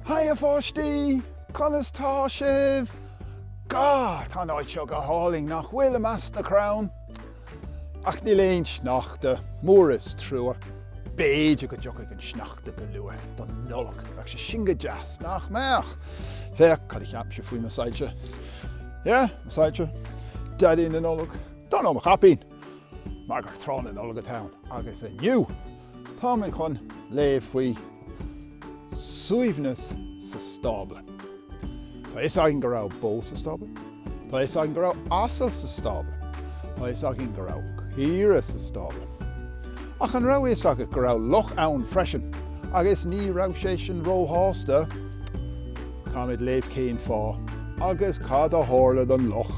Haigh a pháistí! Conas tá sibh? Gá! Tá an áit seo go hálainn, nach bhfuil, i measc na crann? Ach níl aon sneachta, mór is trua. B'fhéidir go dtiocfaidh an sneachta go luath don Nollaig, bheadh sé sin go deas, nach mbeadh? Féach cad a cheap sibh faoi mo soilse. Ie, mo soilse, Daidí na Nollag, nó mo chaipín! Mar gur tráth na Nollag atá ann, agus inniu! Táimid chun léamh faoi suaimhneas sa stábla. Tá fhios againn go raibh bó sa stábla. Tá fhios againn go raibh asal sa stábla. Tá fhios againn go raibh caoirigh sa stábla. Ach an raibh fhios agat go raibh luch ann freisin agus ní raibh sé sin róshásta? táimid ag léamh cén fáth agus cad a tharla don luch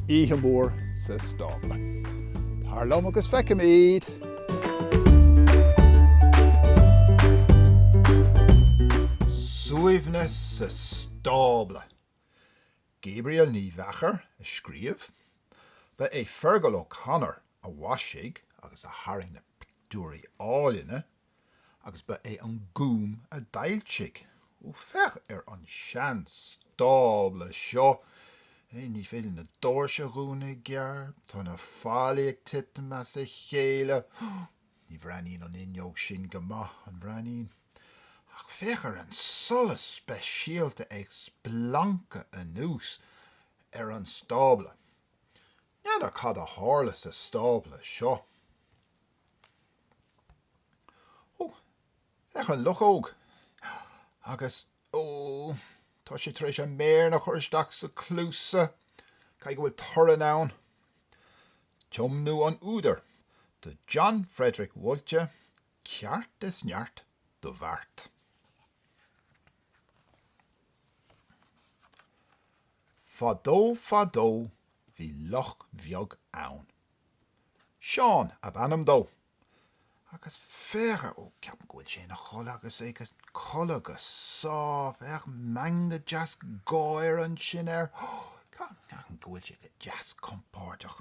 oíche mhór sa stábla. Tar liom agus feicfimid! Suaimhneas sa stábla! Gabrielle Ní Mheachair a scríobh. Ba é Fergal O'Connor a mhaisigh agus a tharraing na pictiúirí áilne. agus ba é an Gúm a d'fhoilsigh, ó féach ar an seanstábla seo, é, ní féidir na doirse a dhúnadh i gceart, tá na fallaí ag titim as a chéile, ní bhreathnaíonn an fhuinneog sin go maith, an mbreathnaíonn? ach féach ar an solas speisialta ag splancadh anuas ar an stábla. N'fheadar cad a tharla sa stábla seo. Ó, féach an luchóg. Agus, ó, tá sé tar éis a mhéara a chur isteach sna cluasa. Caithfidh go bhfuil torann ann. Tiomnú an údair do John Frederick Woltjer, ceart is neart do bheart. Fadó, fadó bhí luch bheag ann. Seán ab ainm dó. Agus féach air, ó, ceapaim go bhfuil sé ina chodladh agus é ag codladh go sámh, féach, meangadh deas gáire ansin air, ó, ceapaim go bhfuil sé go deas compordach.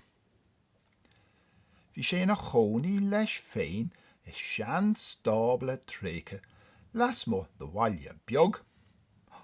Bhí sé ina chónaí leis féin i seanstábla tréigthe lasmuigh de bhaile beag, ó,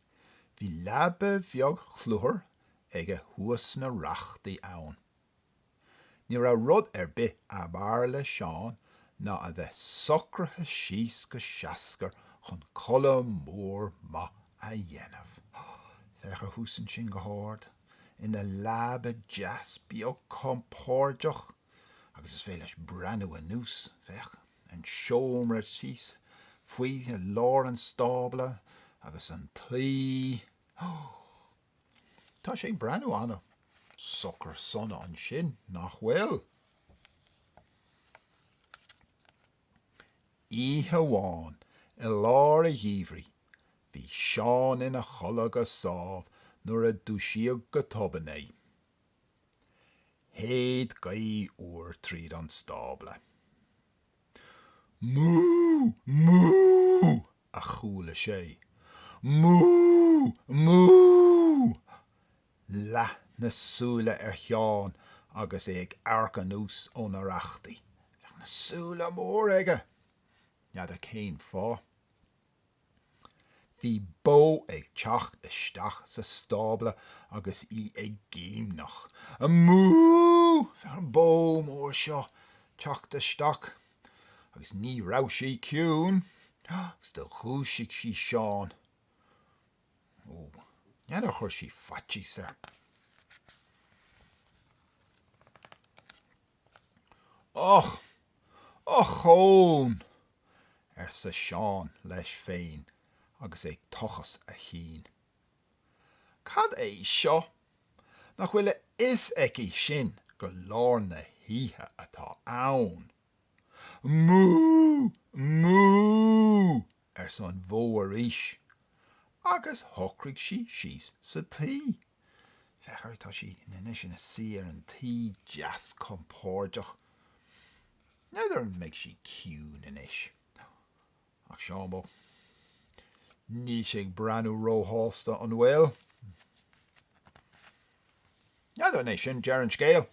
Bhí leaba bheag chluthair aige thuas sna rachtaí ann. Ní raibh rud ar bith ab fhearr le Seán ná a bheith socraithe síos go seascair chun codladh mór maith a dhéanamh. Féach air thuas ansin go hard ina leaba deas beag compordach agus is féidir leis breathnú anuas. Féach. an seomra thíos faoi lár an stábla agus an tuí Tá sé ag breathnú an-socair sona ansin, nach bhfuil? Oíche amháin i lár an gheimhridh bhí Seán ina chodladh go sámh nuair a dúisíodh go tobann é. Shéid gaoth fhuar tríd an stábla. Mú! Mú! a chuala sé. Mú! Mú! Leath na súile ar Sheán agus é ag amharc anuas ó na rachtaí. Féach na súile móra aige! N'fheadar cén fáth. Bhí bó ag teacht isteach sa stábla agus í ag géimneach. Á mú! Féach an bó mór seo ag teacht isteach agus ní raibh sí ciúin agus do dhúisigh sí Seán. Ó, n'fheadar ar chuir sí faitíos air. Och! Ochón! arsa Seán leis féin agus é ag tochas a chinn. Cad é seo? Nach bhfuil a fhios aici sin gur lár na hoíche atá ann? Mú! Mú! arsa an bhó arís, agus shocraigh sí síos sa tuí. Féach ar, tá sí anois ina suí ar an tuí deas compordach. N'fheadar an mbeidh sí ciúin anois. Ach Seán bocht, níl sé ag breathnú róshásta, an bhfuil? N'fheadar an é sin deireadh an scéil?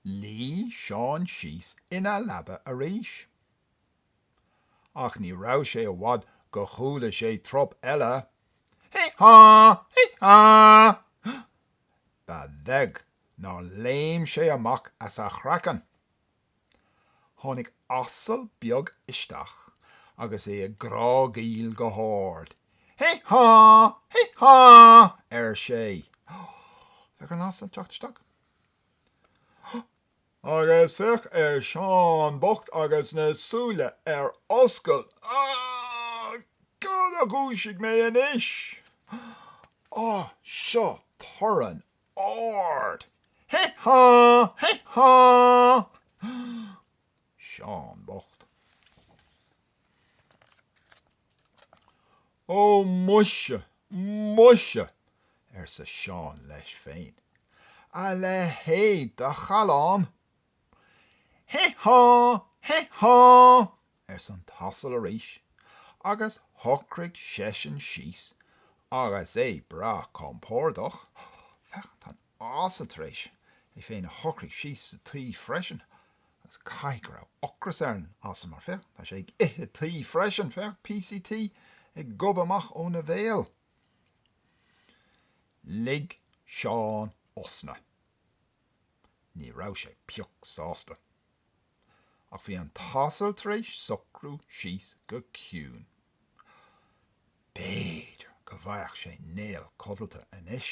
Luigh Seán síos ina leaba arís. Ach ní raibh sé i bhfad gur chuala sé trup eile. Hé há! Hé há! Ba bheag nár léim sé amach as a chraiceann. Tháinig asal beag isteach agus é ag grágaíl go hard. Hé há! Hé há! ar sé. Féach an asal ag teacht isteach. Agus féach ar Sheán bocht agus na súile ar oscailt aige. Cad a dhúisigh mé anois? Á, seo torann ard, Hé há! Hé há! Seán bocht. Ó muise, muise! arsa Seán leis féin. A leithéid de challán! Hé há! Hé há! arsa an t-asal arís, agus shocraigh seisean síos agus é breá compordach. Féach, tá an t-asal tar éis é féin a shocrú síos sa tuí freisin, agus caithfidh go raibh ocras ar an asal, mar féach, tá sé ag ithe tuí freisin, féach píosaí tuí ag gobadh amach óna bhéal. Lig Seán osna. Ní raibh sé pioc sásta. Ach bhí an t-asal tar éis socrú síos go ciúin. B'fhéidir go bhfaigheadh sé néal codlata anois.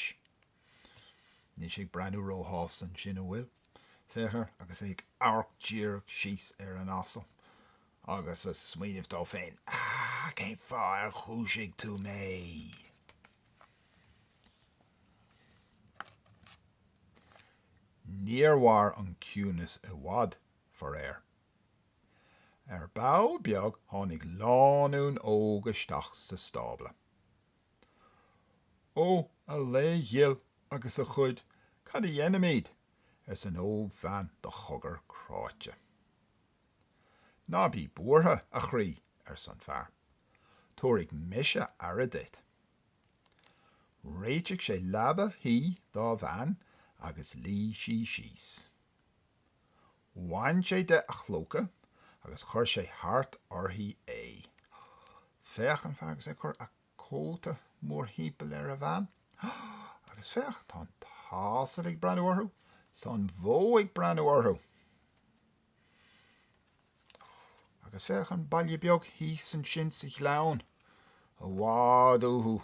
Níl sé ag breathnú róshásta ansin, an bhfuil? Féach air agus é ag amharc díreach síos ar an asal agus ag smaoineamh dó féin, Cén fáth ar dhúisigh tú mé? Níor mhair an ciúnas i bhfad, faraor. Ar ball beag tháinig lánúin óg isteach sa stábla. Ó, a lao ghil agus a chuid, cad a dhéanfaimid? arsa an ógbhean de chogar cráite. Ná bí buartha, a chroí, arsa an fear. Tabharfaidh mise aire duit. Réitigh sé leaba thuí dá bhean agus luigh sí síos. Bhain sé de a chlóca agus chuir sé thart uirthi é. Féach an fear agus é ag cur a cóta mórthimpeall ar a bhean. Agus féach, tá an t-asal ag breathnú orthu, 's tá an bhó ag breathnú orthu. Agus féach an baile beag thíos ansin sa ghleann, i bhfad uathu.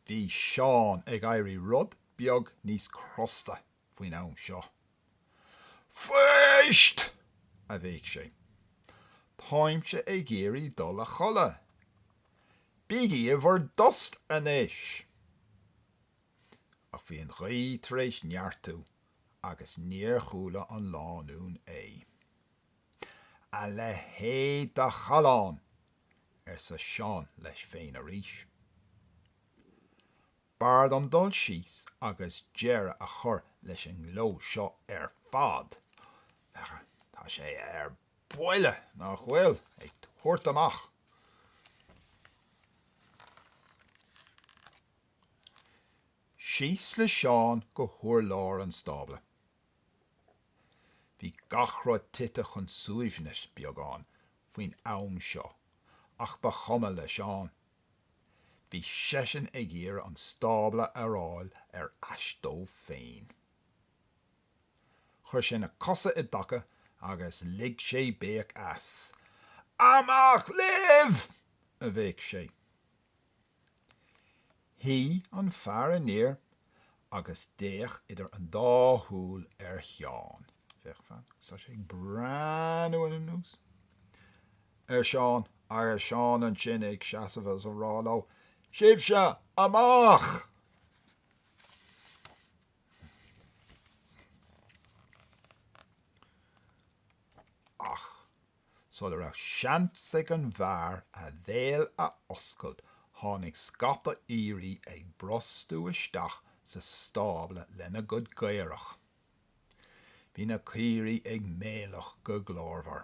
Bhí Seán ag éirí rud beag níos crosta faoin am seo. Fuist! a bhéic sé. Táimse ag iarraidh dul a chodladh. Bígí i bhur dtost anois! ach bhí an ghaoth tar éis neartú agus níor chuala an lánúin é. A leithéid de challán! arsa Seán leis féin arís. B'fhearr dom dul síos agus deireadh a chur leis an ngleo seo ar fad. Féach, tá sé ar buile, nach bhfuil, ag tabhairt amach. síos le Seán go hurlár an stábla. Bhí gach rud tite chun suaimhnis beagán faoin am seo ach ba chuma le Seán. Bhí seisean ag iarraidh an stábla a fháil ar ais dó féin. Chuir sé na cosa i dtaca agus lig sé béic as. 'Amach libh! a bhéic sé. Shuigh an fear aniar agus d'fhéach idir an dá shúil ar Sheán. Féach, fan, agus tá sé ag breathnú anuas ar Sheán agus Seán ansin ag seasamh agus ag rá leo, Sibhse amach! Ach. Sula raibh seans ag an bhfear a bhéal a oscailt tháinig scata aoirí ag brostú isteach sa stábla lena gcuid caorach. Bhí na caoirigh ag méileach go glórmhar.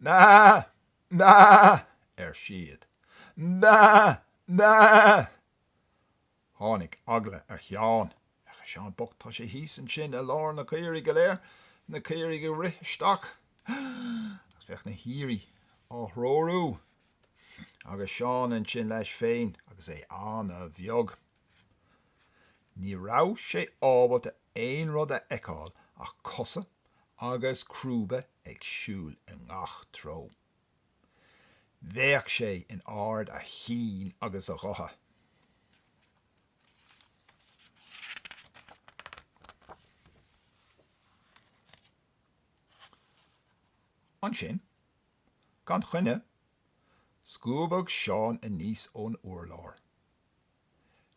Meá! Meá! ar siad. Meá! Meá! Tháinig eagla ar Sheán. Féach Seán bocht, tá sé thíos ansin i lár na caoirigh go léir, na caoirigh ag rith isteach, agus féach na haoirí á dtreorú agus Seán ansin leis féin agus é an-bheag. Ní raibh sé ábalta aon rud a fheiceáil ach cosa agus crúba ag siúl i ngach treo. Bhéic sé in ard a chinn agus a ghutha. Ansin, gan choinne, scuabadh Seán aníos ón urlár.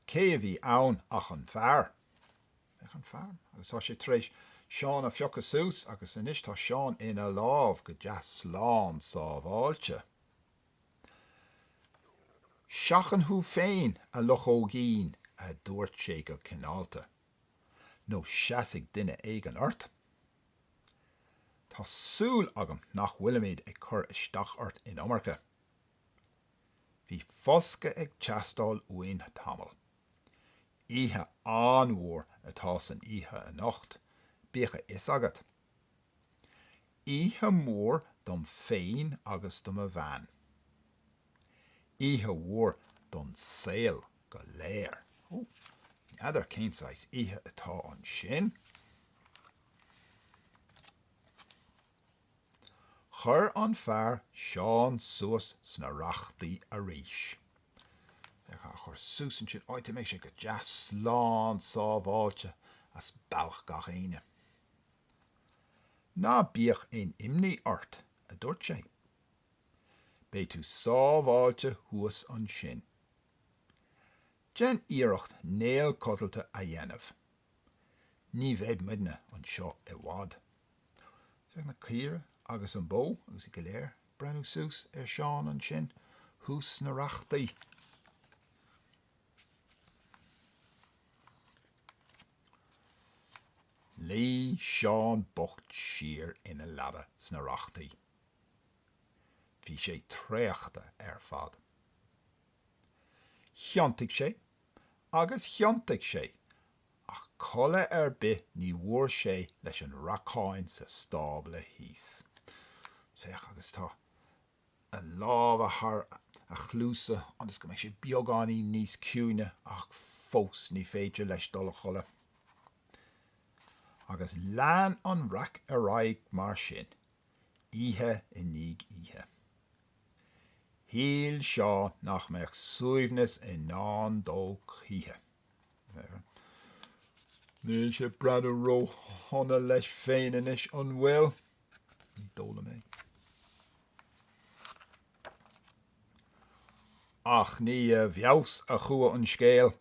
Cé a bhí ann ach an fear. Féach an fear. Agus tá sé tar éis Seán a phiocadh suas agus anois tá Seán ina lámh go deas slán sábháilte. Seachain thú féin, a luchóigín, a dúirt sé go cineálta, nó seasfaidh duine éigin ort. Tá súil agam nach bhfuilimid ag cur isteach ort an iomarca. Bhí foscadh ag teastáil uainn tamall. Oíche an-mhór atá san oíche anocht, bíodh a fhios agat. Oíche mhór dom féin agus do mo bhean. Oíche mhór don saol go léir. N'fheadar cén saghas oíche atá ansin? Chuir an fear Seán suas sna rachtaí arís. Féach, á chur suas ansin, áit a mbeidh sé go deas slán sábháilte as bealach gach éinne. Ná bíodh aon imní ort, a dúirt sé. Beidh tú sábháilte thuas ansin. Déan iarracht néal codlata a dhéanamh. Ní bheidh muidne anseo i bhfad. Féach na caoire agus an bó agus iad go léir breathnú suas ar Sheán ansin thuas sna rachtaí. Luigh Seán bocht siar ina leaba sna rachtaí. Bhí sé traochta ar fad. Thiontaigh sé agus thiontaigh sé, ach codladh ar bith ní bhfuair sé leis an racán sa stábla thíos. Féach, agus tá a lámha thar a chluasa ionas go mbeadh sé beagáinín níos ciúine, ach fós ní féidir leis dul a chodladh. Agus lean an raic ar aghaidh mar sin, oíche i ndiaidh oíche. Shíl Seán nach mbeadh suaimhneas i ndán dó choíche. Níl sé ag breathnú róshona leis féin anois, an bhfuil? Ní dóigh liom é. Ach ní i bhfeabhas a chuaigh an scéal.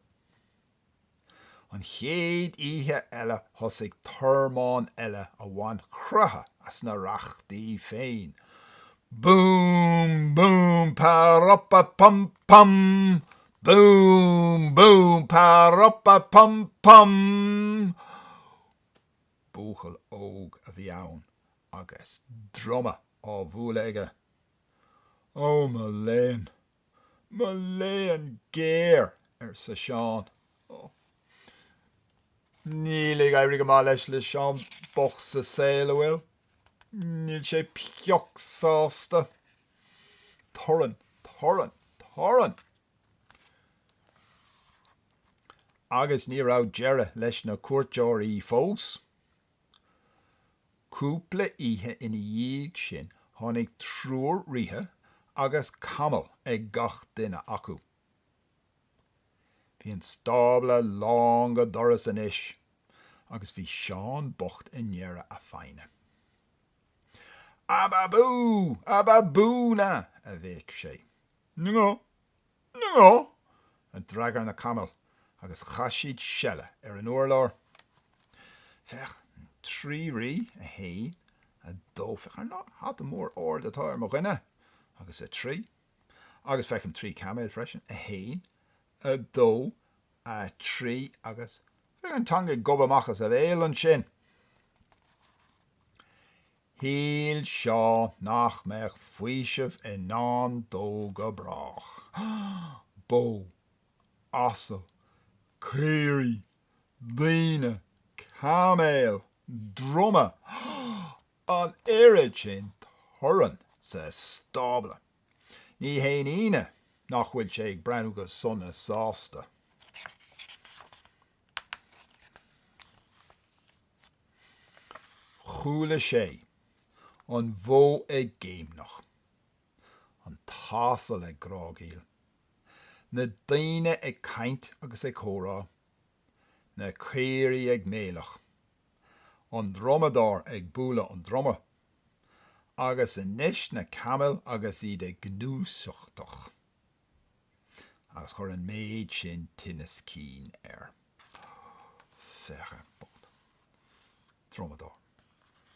An chéad oíche eile thosaigh tormán eile a bhain croitheadh as na rachtaí féin. Boom boom pa-rop-a pum pum! Boom boom pa-rop-a pum pum! Buachaill óg a bhí ann agus druma á bhualadh aige. Ó mo léan! Mo léan géar! arsa Seán. Ó, níl ag éirí go maith leis, le Seán bocht sa saol, a' bhfuil? Níl sé pioc sásta. Torann, torann, torann! Agus ní raibh deireadh leis na cuairteoirí fós. Cúpla oíche ina dhiaidh sin tháinig triúr ríthe agus camall ag gach duine acu. Bhí an stábla lán go doras anois agus bhí Seán bocht i ndeireadh a fhoighne. Ababú! Ababú-na! a bhéic sé. Ó. Ó! a d'fhreagair na camaill agus chaith siad seile ar an urlár. Féach, trí rí, a haon, a dó, féach an hata mór ard atá air, mo dhuine, agus a trí, agus feicim trí caiméil freisin, a haon, a dó, a trí, agus féach an teanga ag gobadh amach as a bhéal ansin. Shíl Seán nach mbeadh faoiseamh i ndán dó go brách. Bó, asal, caoirigh, daoine, caiméil, druma, an oiread sin torainn sa stábla. Ní haon ionadh nach bhfuil sé ag breathnú go sona sásta. Chuala sé an bhó ag géimneach, an t-asal ag grágaíl, na daoine ag caint agus ag comhrá, na caoirigh ag méileach, an drumadóir ag bualadh an druma, agus anois na camaill agus iad ag gnúsachtach. agus chuir an méid sin tinneas cinn air. Féach. Drumadóir,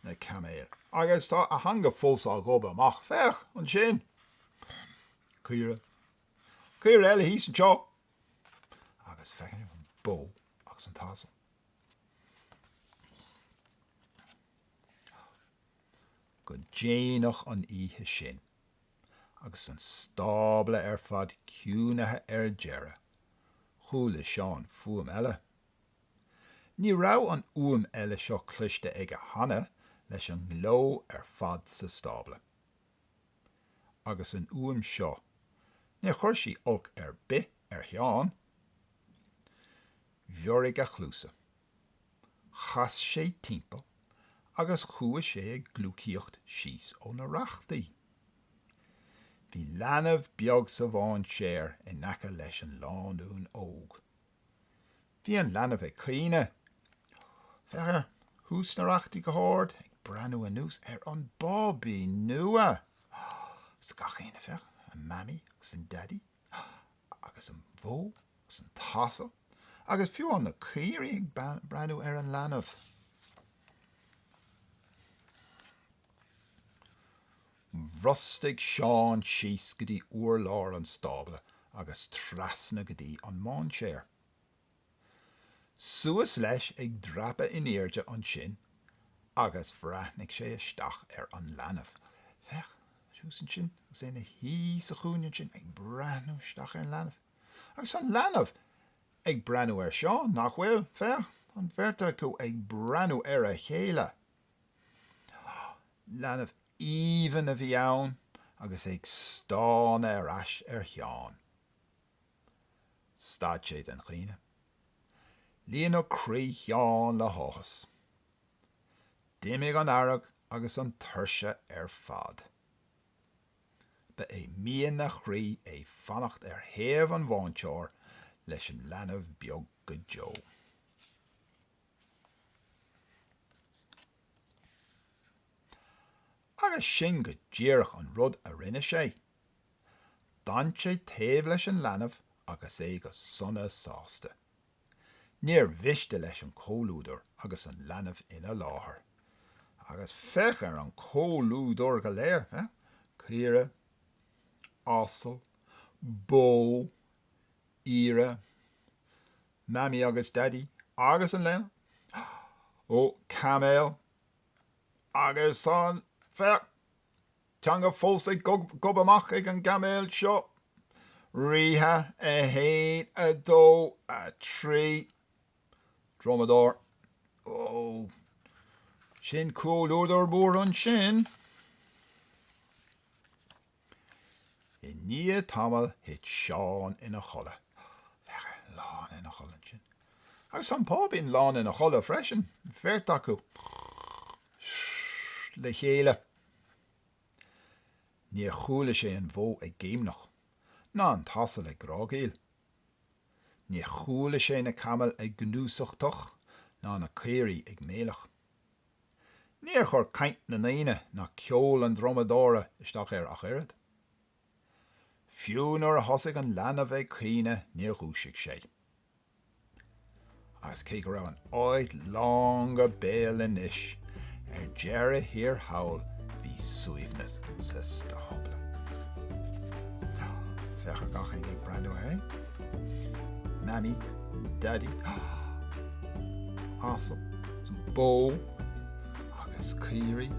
na caiméil, agus tá a theanga fós ag gobadh amach, féach ansin. Caoire, caoire eile thíos anseo, agus féach an bó agus an t-asal. Go déanach an oíche sin, agus an stábla ar fad ciúnaithe ar deireadh, chuala Seán fuaim eile. Ní raibh an fhuaim eile seo cloiste aige cheana leis an ngleo ar fad sa stábla. Agus an fhuaim seo, níor chuir sí olc ar bith ar Sheán. Bhioraigh a chluasa. chas sé timpeall agus chuaigh sé ag gliúcaíocht síos ó na rachtaí. Bhí leanbh beag sa mháinséar in aice leis an lánúin óg. Bhí an leanbh ag caoineadh. Féach air, thuas sna rachtaí go hard ag breathnú anuas ar an bábaí nua! Agus gach éinne, féach, an Mamaí agus an Daidí, agus an bhó 's an t-asal agus fiú amháin na caoirigh ag breathnú ar an leanbh. Bhrostaigh Seán síos go dtí urlár an stábla agus trasna go dtí an máinséar. Suas leis ag dreapadh in airde ansin agus bhreathnaigh sé isteach ar an leanbh. Féach, thuas ansin agus é ina shuí sa chúinne ansin ag breathnú isteach ar an leanbh. Agus an leanbh ag breathnú air seo, nach bhfuil? Féach, tá an bheirt acu ag breathnú ar a chéile. Leanbh aoibhinn a bhí ann agus é ag stánadh ar ais ar Sheán. Stad sé den chaoineadh. Líonadh croí Sheáin le háthas. D'imigh an fhearg agus an tuirse ar fad. Ba é mian a chroí é fanacht ar thaobh an mhainséir leis an leanbh beag go deo. Agus sin go díreach an rud a rinne sé. D'fhan sé taobh leis an leanbh agus é go sona sásta. Níor mhiste leis an comhluadar agus an leanbh ina láthair. Agus féach ar an chomhluadar go léir, caoirigh, asal, bó, aoire, Mammy agus Daidí agus an leanbh, ó, camel, agus an, féach! teanga fós ag gobadh amach ag an gcamel seo. Ríthe, 1, 2, 3. Drumadóir, Ó, sin comhluadar mór ansin. I ndiaidh tamaill thit Seán ina chodladh. Féach air lán ina chodladh ansin. Agus an páibín lán ina chodladh freisin, an bheirt acu le chéile. Níor chuala sé an bhó ag géimneach, ná an t-asal ag grágaíl. Níor chuala sé na camaill ag gnúsachtach ná na caoirigh ag méileach. Níor chuir caint na ndaoine ná ceol an drumadóra isteach air ach oiread. Fiú nuair a thosaigh an leanbh ag caoineadh níor dhúisigh sé. Agus cé go raibh an áit lán go béal anois, ar deireadh thiar thall bhí suaimhneas sa stábla. Féach ar gach éinne ag breathnú air é. Mammy, Daddy, asal, bó agus caoirigh.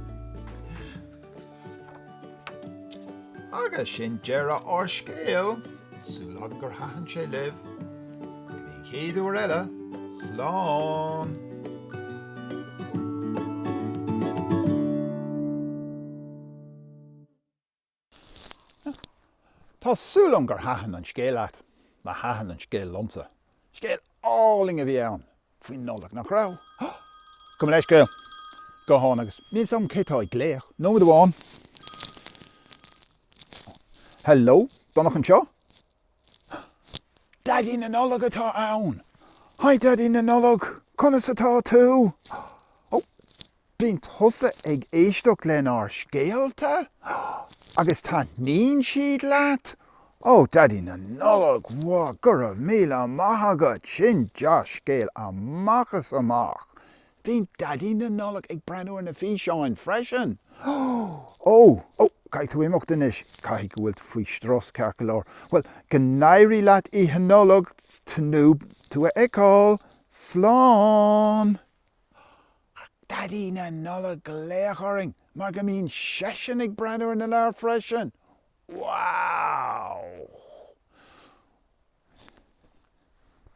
Agus sin deireadh ár scéil, súil agam gur thaitin sé libh. Go dtí an chéad uair eile, slán! Tá súil agam gur thaitin an scéal leat, mar thaitin an scéal liomsa. Scéal álainn a bhí ann! faoin Nollaig, nach raibh? Gabh mo leithscéal, guthán agus. Níl 's agam cé tá ag glaoch. Nóiméad amháin. Hello? Donncha anseo? Daidí na Nollag atá ann! Hi Daidí na Nollag, conas atá tú? Oh, Bíonn tusa ag éisteacht lenár scéalta agus taitníonn siad leat? Ó, Daidí na Nollag, bhuel, go raibh míle maith agat, sin dea-scéal amach is amach! Bíonn Daidí na Nollag ag breathnú ar na físeáin freisin. Ó, ó, caithfidh tú imeacht anois, caithfidh go bhfuil faoi strus ceart go leor. Bhuel, go n-éirí leat Oíche Nollag, tnúth le tú a fheiceáil. Slán! Daidí na Nollag ag glaoch orainn mar go mbíonn seisean ag breathnú ar na leabhair freisin! Wow!